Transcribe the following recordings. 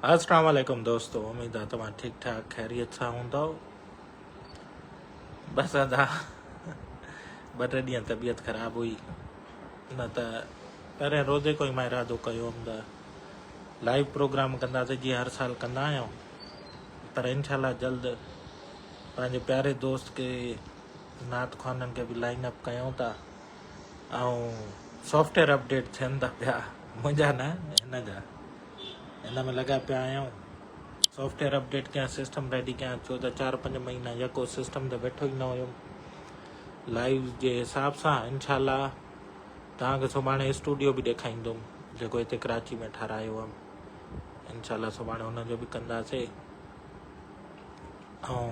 السلام عليڪم دوستو اميد آ توهان ٺيڪ ٺاڪ خيريت سان هوندو بس ادا ٻه ٽي ڏينهن طبيعت خراب هئي نه ته پهرين روزي کوئي مان ارادو ڪيو هوم ته لائيو پروگرام ڪنداسي جي هر سال ڪندا آهيون پر انشاء الله جلد پنهنجي پياري دوست کي نعت خوانن کي به لائن اپ ڪيون ٿا ۽ سافٽويئر اپڊيٽ ٿين ٿا پيا منهنجا نه هن جا هن ۾ لڳا پيا آهيون سافٽويئر اپڊيٽ ڪيان سسٽم ريڊي ڪيان ڇو ته چار پنج مهينا يڪو سسٽم تي ويٺو ئي نه هيم لائيو جي حساب سان انشاء الله توهانکي سڀاڻي اسٽوڊيو به ڏيکاريندم جيڪو هتي ڪراچي ۾ ٺارايو هيم انشاء الله سڀاڻي هن جو به ڪنداسي ۽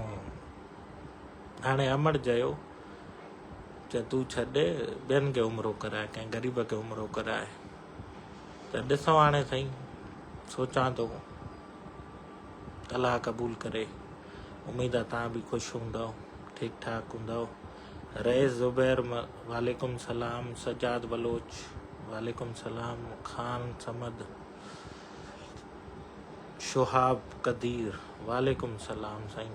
هاڻي امڙ جيو چي تون ڇڏ ٻين کي عمرو ڪرائي ڪنهن غريب کي عمرو ڪرائي ته ڏسون هاڻي سائين سوچان ٿو الله قبول ڪري اميد آ تان به خوش هوندو ٺيڪ ٺاڪ هوندو رئيس زبير وعليڪم سلام سجاد بلوچ وعليڪم سلام خان سمد شهاب قدير وعليڪم سلام سائين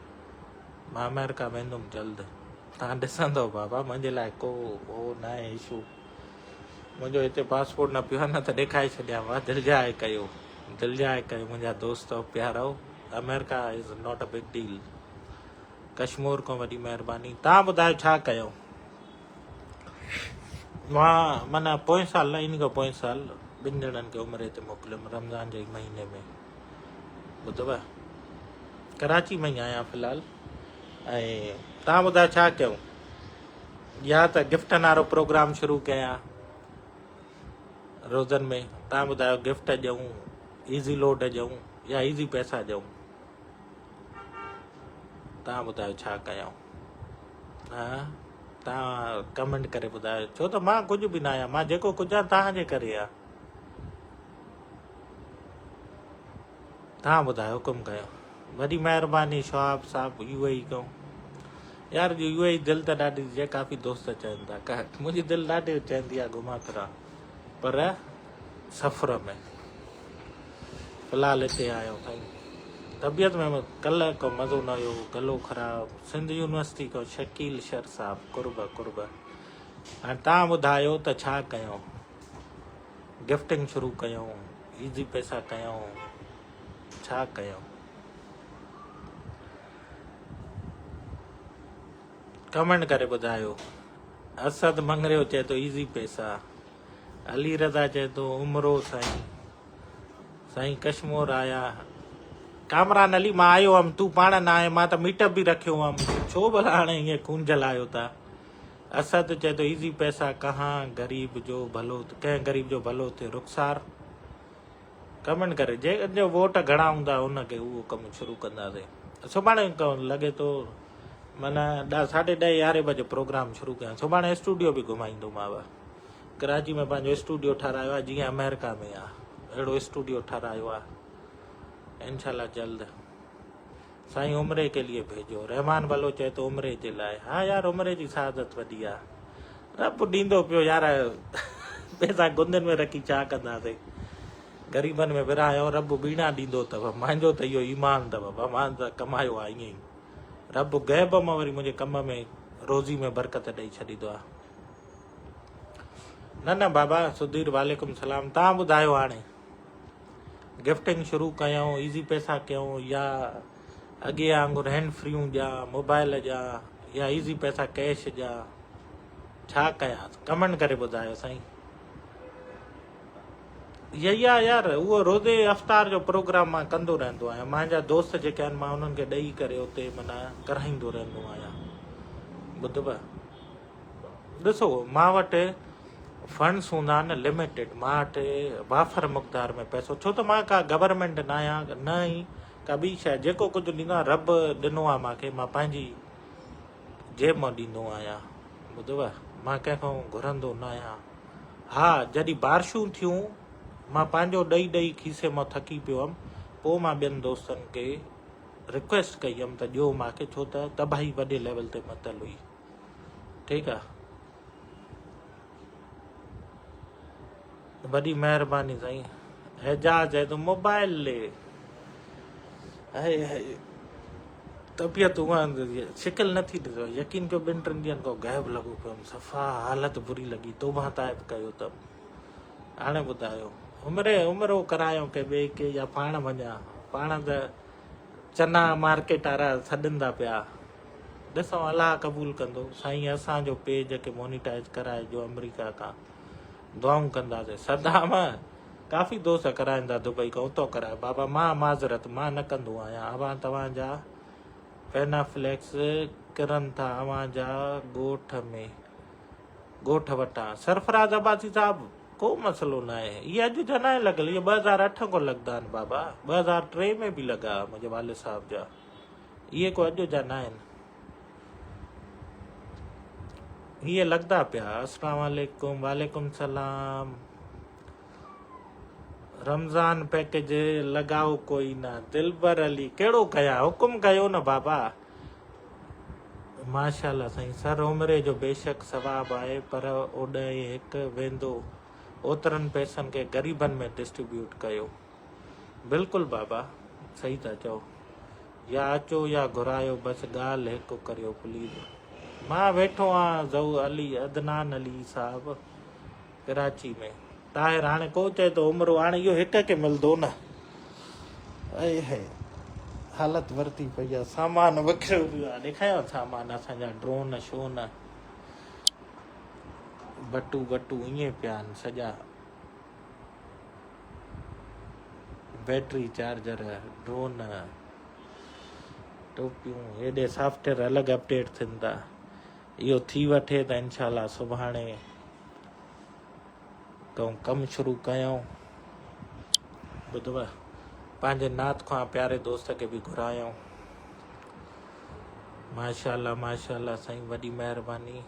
مان آمريڪا ويندم جلد تان ڏسندو بابا منهنجي لاء ڪو هو نه آهي اشو منهنجو هتي پاسپورٽ نه پيو نه ته ڏيکاري ڇڏيان وا دل جاء ڪيو دل جاء ڪيو منهنجا دوست پيارو America is not a big deal Kashmore کان وڏي مهرباني تان ٻڌايو ڇا ڪيو مان مانا پوئين سال نه ان کان پوئين سال ٻن ڄڻن کي عمري تي موڪليم رمضان جي مهيني ۾ ٻڌو ڪراچي ۾ ئي آهيان في الحال ۽ تان ٻڌاء ڇا ڪيون يا ته گفٽن وارو پروگرام شروع ڪيان روزن ۾ تان ٻڌايو گفٽ ڏيون ايزي لوڊ ڏيون يا ايزي پيسا ڏيون تان ٻڌايو ڇا ڪيون ها تان ڪمنٽ ڪري ٻڌايو ڇو ته مان ڪجهه به نه آهيان مان جيڪو ڪجهه آهيان تان جي ڪري آهيان ھا ٻڌاء حڪم ڪيو. وڏي مھرباني شھاب صاحب يو اي اي ڪيون يار جو يو اي اي دل ته ڏاڍي جي ڪافي دوست چون ٿا ڪه منھنجي دل ڏاڍي چوندي آ گھمان پھران پر سفر ۾ فلحال اتي آيون سائين طبيعت ۾ ڪلھ ڪو مزو نه ھيو گلو خراب سنڌ يونيورسٽي ڪو شڪيل شھر صاحب قرب قرب ھاڻي تھان ٻڌايو ته ڇا ڪيون. گفٽنگ شروع ڪيائون ايزي پئسا ڪيائون ڇا ڪيائون ڪمينٽ ڪري ٻڌايو اسد منگريو چئي ٿو ايزي پئسا علي رضا چئي ٿو عمرو سائين سائين ڪشمور آيا ڪامران علي مان آيو هم تون پاڻ نه آئي مان ته ميٽ اپ به رکيو هم ڇو ڀلا هاڻي ائين ڪونجل آيو تا اسد چئي ٿو ايزي پئسا ڪهان غريب جو ڀلو ڪنهن غريب جو ڀلو ٿئي رخسار ڪمينٽ ڪري جي جو ووٽ گهڻا هوندا ان کي اهو ڪم شروع ڪنداسي سڀاڻي لڳي ٿو من ساڍي ڏهه يارهين بجي پروگرام شروع ڪيا سڀاڻي اسٽوڊيو به گهمائيندو ماء ڪراچي ۾ پنهنجو اسٽوڊيو ٺهرايو آهي جيئن امريڪا ۾ آهي اهڙو اسٽوڊيو ٺهرايو آهي انشاء الله جلد سائين عمري ڪي ليي ڀيجو. رحمان بلو چئي ٿو عمري جي لاء. ها يار عمري جي سعادت وڏي آ. رب ڏيندو پيو يار پيسا گندين ۾ رکي ڇا ڪنداسين. غريبن ۾ ورهايو رب ٻيڻا ڏيندو اٿو. منهنجو ته اهو ايمان اٿو ڀا مان ته ڪمايو آ ائين ئي رب غيب مان وري منهنجي ڪم ۾ روزي ۾ برڪت ڏئي ڇڏيندو آ. نه نه بابا سڌير وعليڪم سلام تهان ٻڌايو هاڻي. گفٽنگ شروع ڪيائون ايزي پئسا ڪيائون يا اڳي وانگر هينڊ فريون ڏيان موبائل ڏيان يا ايزي پئسا ڪيش ڏيان ڇا ڪيان ڪمنٽ ڪري ٻڌايو سائين يا يار اهو روزي افطار جو پروگرام مان ڪندو رهندو آهيان مانجا دوست جيڪي آهن مان انهن کي ڏئي ڪري اتي منا ڪرائيندو رهندو آهيان ٻڌبا ڏسو مان وٽ فنڊس هوندا آهن لميٽيڊ مان وٽ وافر مقدار ۾ پئسو ڇو ته مان ڪا گورنمينٽ نه آهيان نه ئي ڪا ٻي شايد جيڪو ڪجهه ڏيندو آهيان رب ڏنو آهي مانکي مان پنهنجي جيب مان ڏيندو آهيان ٻڌو مان ڪنهن کان گهرندو نه آهيان ها جڏهن بارشون ٿيون مان پنهنجو ڏئي ڏئي کيسي مان ٿڪي پيو هيم پوء مان ٻين دوستن کي رڪويسٽ ڪئي هيم ته ڏيو مانکي ڇو ته تباهي وڏي ليول تي متل هئي ٺيڪ آ وڏي مهرباني سائين اعجاز چئي ٿو موبائل لي هاي هاي طبيعت هونئن شڪل نٿي ڏسو يقين ڪيو ٻن ٽن ڏينهن کو غائب لڳو پيو هوم صفا حالت بري لڳي توبه تائب ڪيو ته هاڻي ٻڌايو عمري عمرو ڪرايو ڪي ٻئي کي يا پاڻ وڃان پاڻ ته چنا مارڪيٽ وارا سڏن ٿا پيا ڏسون الله قبول ڪندو. سائين اسان جو پيج کي مونيٽائز ڪرائي جو امريڪا کان دعائون ڪنداسين صدام ڪافي دوست ڪرائيندا دبئي کان اتو ڪرائي بابا مان معذرت مان نه ڪندو آهيان اوهان توهان جا فينا فليڪس ڪرن ٿا اوهان جا ڳوٺ ۾ ڳوٺ وٽان سرفراز عباسي صاحب ڪو مسئلو نه آهي هي اڄ جا نه لڳل هي 2008 کان لڳدا آهن بابا 2003 ۾ به لڳا منهنجي والد صاحب جا اهي ڪو اڄ جا ناهن. هي لڳدا پيا اسلام عليڪم وعليڪم سلام رمضان پيڪج لڳائو ڪوئي نه دلبر علي ڪهڙو ڪيا حڪم ڪيو نه بابا ماشاءالله سائين سر عمري جو بيشڪ ثواب آهي پر اوڏهي هڪ ويندو اوترن پيسن کي غريبن ۾ ڊسٽريبيوٽ ڪيو بلڪل بابا صحيح ٿا چئو يا اچو يا گهرايو بس ڳالهه هڪ ڪريو پليز مان ويٺو آ زو علي عدنان علي صاحب ڪراچي ۾ طاهر هاڻي ڪو چئي ته عمرو هاڻي اهو هڪ کي ملندو نه اي هي حالت ورتي پئي آ سامان وکريو پيو آ ڏيکايو سامان اسان جا ڊرون شون بٽو بٽو ائين پيا آهن سڄا بيٽري چارجر، ڊرون، ٽوپيون هيڏي سافٽويئر الڳ اپڊيٽ ٿين ٿا اهو ٿي وٺي ته انشاء الله سڀاڻي تو ڪم شروع ڪيائون ٻڌو پنهنجي نات خوان پياري دوست کي به گهرايائون ماشاء الله ماشاء الله سائين وڏي مهرباني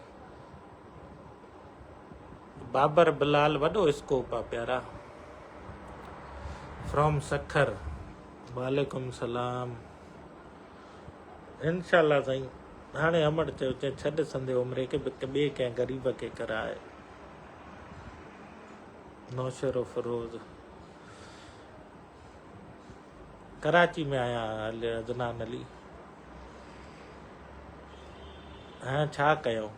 بابر بلال وڏو اسڪوپ آ پيارا فرام سکر. وعليڪم سلام انشاء الله سائين هاڻي امڙ چيو چي ڇڏ سندي عمري کي ٻي ڪنهن غريب کي ڪراء نوشهروفروز. ڪراچي ۾ آهيان هل عدنان علي هينئر ڇا ڪيون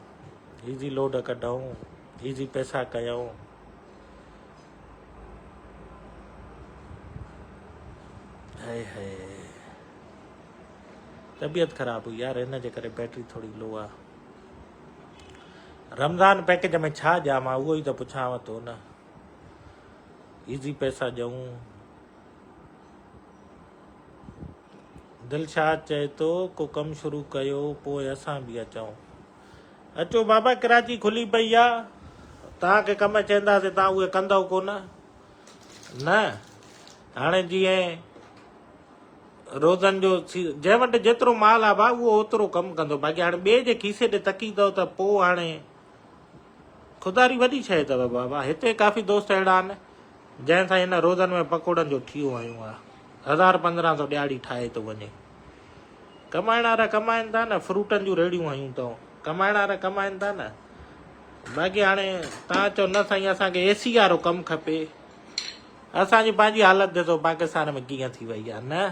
هي جي لوڊ ڪڍئون هي جي پئسا ڪيون هي هي طبيعت خراب هئي يار هن جي ڪري بيٽري ٿوري لو آ رمضان پيڪج ۾ ڇا ڏيان مان اهو ئي ته پڇانو ٿو نه ايزي پئسا ڏيون. دلشاد چئي ٿو ڪو ڪم شروع ڪيو پوء اسان به اچون. اچو بابا ڪراچي کلي پئي آ تان کي ڪم چيندا سي تان اوه ڪندو ڪون نه هاڻي جي روزن جو جنهن وٽ جيترو مال آ با اوه اوترو ڪم ڪندو باقي هاڻي ٻي جي کيسي ڏي تڪي ٿو ته پوء هاڻي خوداري وڏي شيء اٿو بابا. هتي ڪافي دوست اهڙا آهن، جنهن سان هن روزن ۾ پڪوڙن جو ٺيو هنيون آهي. هزار پندرهن سو ڏياڙي ٺاهي ٿو وڃي. ڪمائڻ وارا ڪمائن ٿا نه، فروٽن جون ريڙهيون هنيون اٿئون. ڪمائڻ وارا ڪمائن ٿا نه. باقي هاڻي توهان چئو نه سائين اسان کي اي سي وارو ڪم کپي. اسان جي پنهنجي حالت ڏسو پاڪستان ۾ ڪيئن ٿي وئي آهي نه.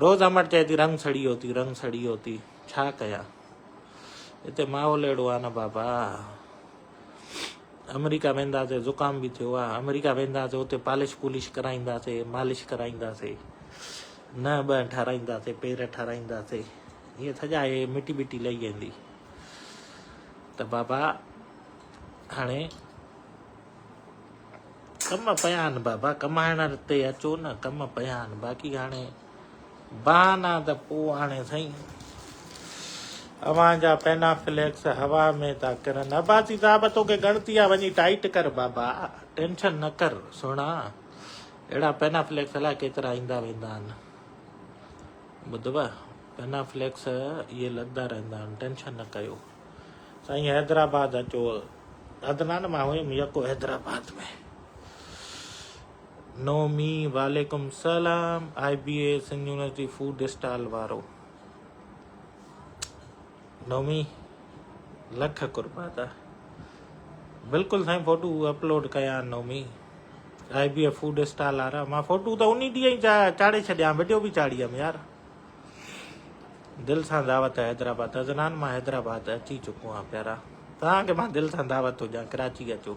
روز امڙ چئي ٿي رنگ سڙي هوتي، رنگ سڙي هوتي. ڇا ڪيان هتي ماحول اهڙو آهي نه بابا آمريڪا وينداسي زڪام به ٿيو آهي آمريڪا وينداسي اتي پالش پولش ڪرائينداسي مالش ڪرائينداسي نه ٻه ٺاراينداسي پير ٺاراينداسي هي سڄا هي مٽي مٽي لهي ويندي ته بابا هاڻي ڪم پيا آهن بابا ڪمائڻ تي اچو نه ڪم پيا آهن باقي هاڻي بهانا ته پوء آڻي سائين اوهان جا پينا فليڪس هوا ۾ ٿا ڪرن عباسي صاحب توکي ڳڻتي آ وڃي ٽائيٽ ڪر بابا ٽينشن نه ڪر سهڻا اهڙا پينا فليڪس الاء ڪيترا ايندا ويندا آهن ٻڌو پينا فليڪس اهي لڳدا رهندا آهن ٽينشن نه ڪيو سائين حيدرآباد اچو عدنان مان هيم يڪو حيدرآباد ۾ نومي، وعليڪم السلام، I B A Sindh university food stall وارو نومي لک قربا تا بلڪل سائين فوٽو اپلوڊ ڪيا Nomi I B A food stall وارا مان فوٽو ته اني ڏينهن ئي چاڙهي ڇڏيا ويڊيو به چاڙهي هم يار دل سان دعوت ہے حیدرآباد حضران مان حیدرآباد اچي چڪو آ پيارا تان کي مان دل سان دعوت ٿو ڏيان ڪراچي اچو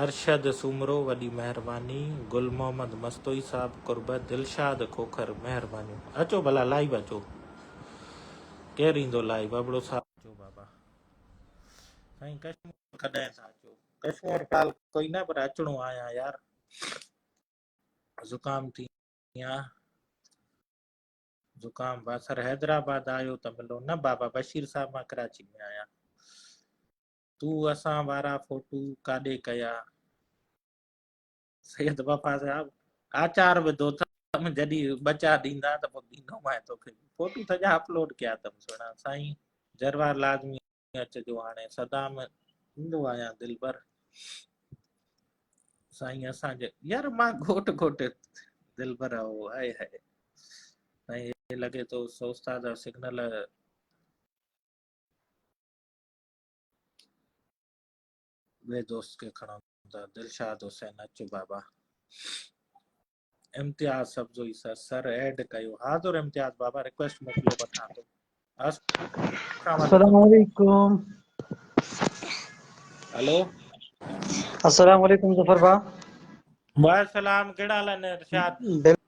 ارشد سومرو وڏي مهرباني. گل محمد مستوئي صاحب قرب. دلشاد کوکر مهربانيون. اچو ڀلا لائيو اچو ڪير ايندو لائيو ابڙو صاحب. اچو بابا سائين ڪشمور ڪڏهن ٿا اچو ڪشمور ڪال ڪوئي نه پر اچڻو آيان يار زڪام ٿي يان زڪام باثر حيدرآباد آيو ته ملو نه بابا بشير صاحب مان ڪراچي ۾ آيان. تون اسان وارا فوٽو ڪاڏي ڪيا. سيد وفا صاحب آچار وڌو تم جڏي ٻچا ڏيندا ته پوء ڏيندو مائي توکي فوٽو سڄا اپلوڊ ڪيا تم سهڻا سائين جروار لازمي اچجو هاڻي سدا ۾ ايندو آهيان دلبر سائين اسان جي يار مان گهوٽ گهوٽ دلبر آهو آئي هائي سائين لڳي ٿو استاد سگنل ٻئي دوست کي کڻو ته دلشاد حسين اچ بابا Imtiaz Sabzoi sir sir add ڪيو حاضر امتياز بابا ريڪويسٽ موڪليو وٺان ٿو السلام علیکم هلو السلام علیکم ظفر با وعليڪم السلام ڪهڙا حال آهن ارشاد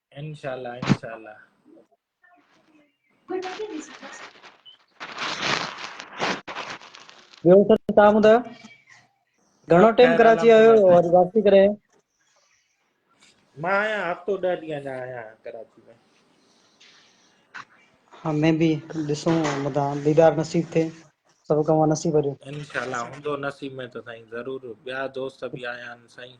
انشاء الله انشاء الله. ٻيو سر تان ٻڌايو گهڻو ٽيم ڪراچي آيو وري واپسي ڪري مان آيا هفتو ڏهه ڏينهن اڃا آيا ڪراچي ۾ ها مين به ڏسون مدا ديدار نصيب ٿي سڀ ڪم نصيب وريو انشاء الله هوندو نصيب ۾ ته سائين ضرور ٻيا دوست به آيا آهن سائين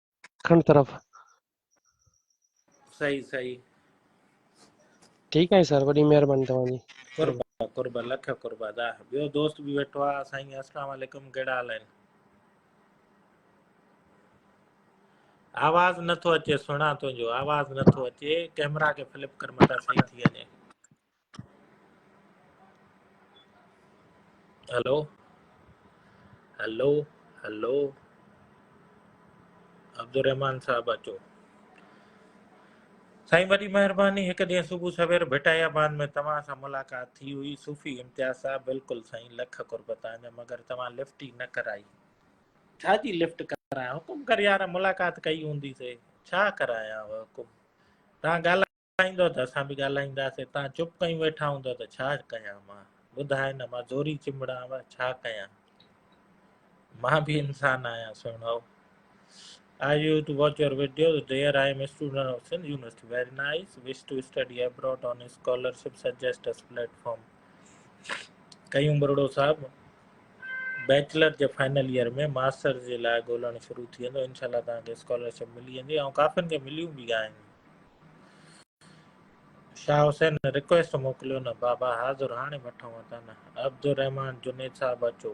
ڏکڻ طرف. صحيح صحيح. ٺيڪ آهي سر وڏي مهرباني توهان جي. قربا قربا لک قربا دا ٻيو دوست به ويٺو آ سائين السلام عليڪم ڪهڙا حال آهن آواز نٿو اچي سهڻا تنهنجو آواز نٿو اچي ڪيمرا کي فلپ ڪر متان صحيح ٿي وڃي هلو هلو هلو عبدالرحمان صاحب اچو سائين وڏي مهرباني هڪ ڏينهن صبح سوير ڀٽائي آباد ۾ توهان سان ملاقات ٿي هئي صوفي امتياز صاحب بلڪل سائين لک قرب تانجا مگر توهان لفٽ ئي نه ڪرائي ڇا جي لفٽ ڪرايان حڪم ڪر يار ملاقات ڪئي هوندي سي ڇا ڪرايان حڪم تان ڳالهه ڳالهائيندؤ ته اسان به ڳالهائينداسين، تان چپ ڪيون ويٺا هوندؤ ته ڇا ڪيان مان؟ ٻڌاء نه مان زوري چنبڙان وه ڇا ڪيان؟ مان به انسان آهيان سهڻو. I view to watch your videos. Dear, I am a student of Sindh University. Very nice. Wish to study abroad on a scholarship. Suggest us platform. Qayyum Broro صاحب بيچلر جي فائنل ايئر ۾ ماستر جي لاء ڳولڻ شروع ٿي ويندو انشاءالله تان کي اسڪالرشپ ملي ويندي ۽ ڪافين کي مليون به آهن شاهه حسين رڪويسٽ موڪليو نه بابا حاضر هاڻي وٺون ٿا نه عبدالرحمان جنيد صاحب اچو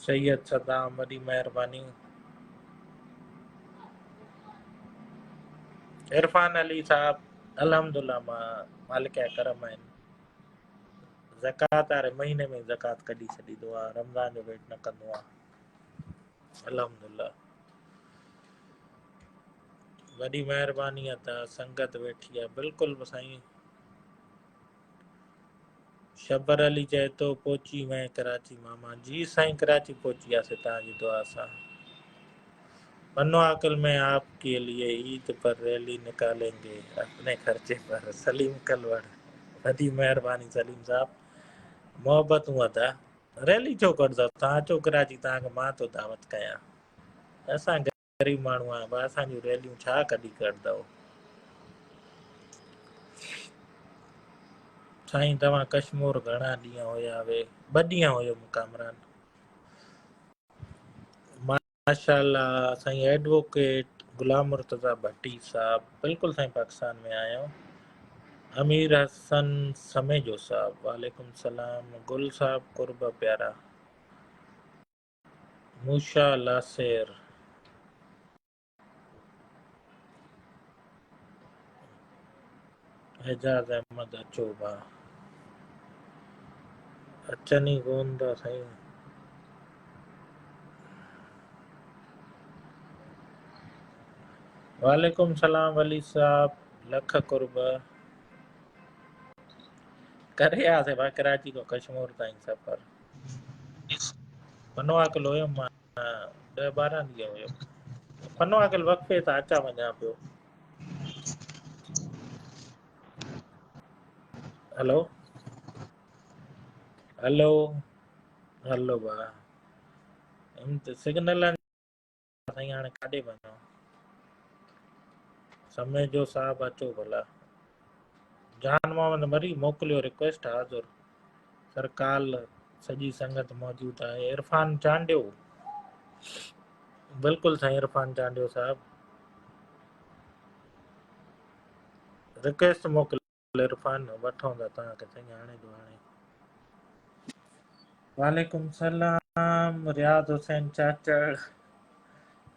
سيد صدام وڏي مهرباني عرفان علي صاحب الحمدلله مان مالڪ جا ڪرم آهن زڪات واري مهيني ۾ زڪات ڪڍي ڇڏي دو رمضان جو ويٽ نه ڪندو آهي الحمدالله وڏي مهرباني آ ته سنگت ويٺي آ بلڪل سائين شبر علي چئي ٿو پهچي وئين ڪراچي ماما جي سائين ڪراچي پهچي آسي تان جي دعا سان منو عاقل ۾ آپ کے لیے عيد پر ريلي نڪالين گي اپني خرچي پر سليم کلوڙ وڏي مهرباني سليم صاحب محبتون ادا ريلي ڇو ڪڍندا توهان اچو ڪراچي توهان کي مان ٿو دعوت ڪيان اسان غريب ماڻهو آهيون بس اسان جون ريليون ڇا ڪڍي ڪرندو سائين توهان ڪشمور گهڻا ڏينهن هيا وي ٻه ڏينهن هيو ڪامران ماشاء الله سائين ايڊووڪيٽ غلام مرتضيٰ ڀٽي صاحب بلڪل سائين پاڪستان ۾ آيو امير حسن سميجو صاحب وعليڪم السلام گل صاحب قرب پيارا موشا لاسير اعجاز احمد اچو ڀاء. اچن ئي ڪون ٿا سائين. وعليڪم سلام ولي صاحب لک قرب ڪري آ سي با ڪراچي کو کشمور تائين سفر فنو اڪل هيم مان 10 12 ڏينهن هيم فنو اڪل وقفي تان اچا وڃا پيو ھلو ھلو ھلو ڀا ھن تھ سگنل سائين ھاڻي ڪاڏي وڃون سمي جو صاحب اچو ڀلا جان محمد مري موڪليو رڪويسٽ حاضر سرڪال سڄي سنگت موجود آهي عرفان چانڊيو بلڪل سائين عرفان چانڊيو صاحب رڪويسٽ موڪل عرفان وٺون ٿا توهان کي سائين هاڻي جو هاڻي وعليڪم السلام رياض حسين چاچڙ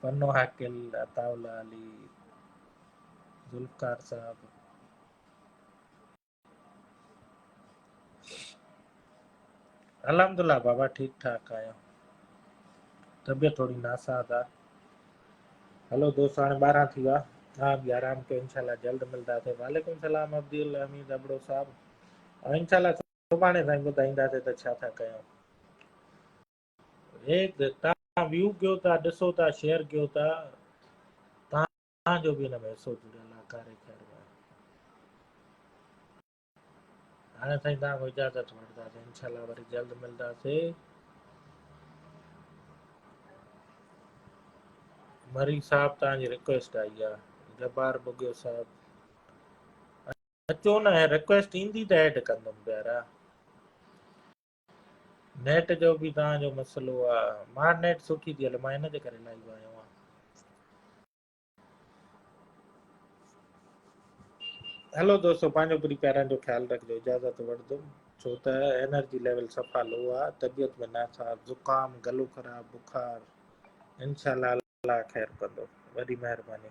پنو حاڪل عطا الله علي ذوالفقار صاحب الحمد الله بابا ٺيڪ ٺاڪ آهيان طبيعت ٿوري ناساز آ هلو دوست هاڻي ٻارهن ٿي ويا ها به آرام ڪيو انشاء الله جلد ملنداسي وعليڪم السلام عبد الحميد ابڙو صاحب ۽ انشاء الله سڀاڻي سائين ٻڌائينداسي ته ڇا ٿا ڪيو هيڪ تان ويو ڪيو ٿا ڏسو ٿا شيئر ڪيو ٿا اسان جو به ان ۾ حصو جڙيل آهي ڪاري خير ۾. هاڻي سائين توهان کان اجازت وٺنداسين انشاء الله وري جلد ملنداسين. مري صاحب توهان جي ريڪويسٽ آئي آهي جبار بگيو صاحب اچو نه ريڪويسٽ ايندي ته ايڊ ڪندم پيارا نيٽ جو به توهان جو مسئلو آ. مان نيٽ سٺي ٿي هلي مان ان جي ڪري لائيو آيو آهيان. هلو دوستو پنهنجو پري پيارن جو خيال رکجو اجازت وٺدم ڇو ته انرجي ليول صفا لو آ طبيعت ۾ ناساز زڪام گلو خراب بخار انشاءالله الله خير ڪندو وڏي مهرباني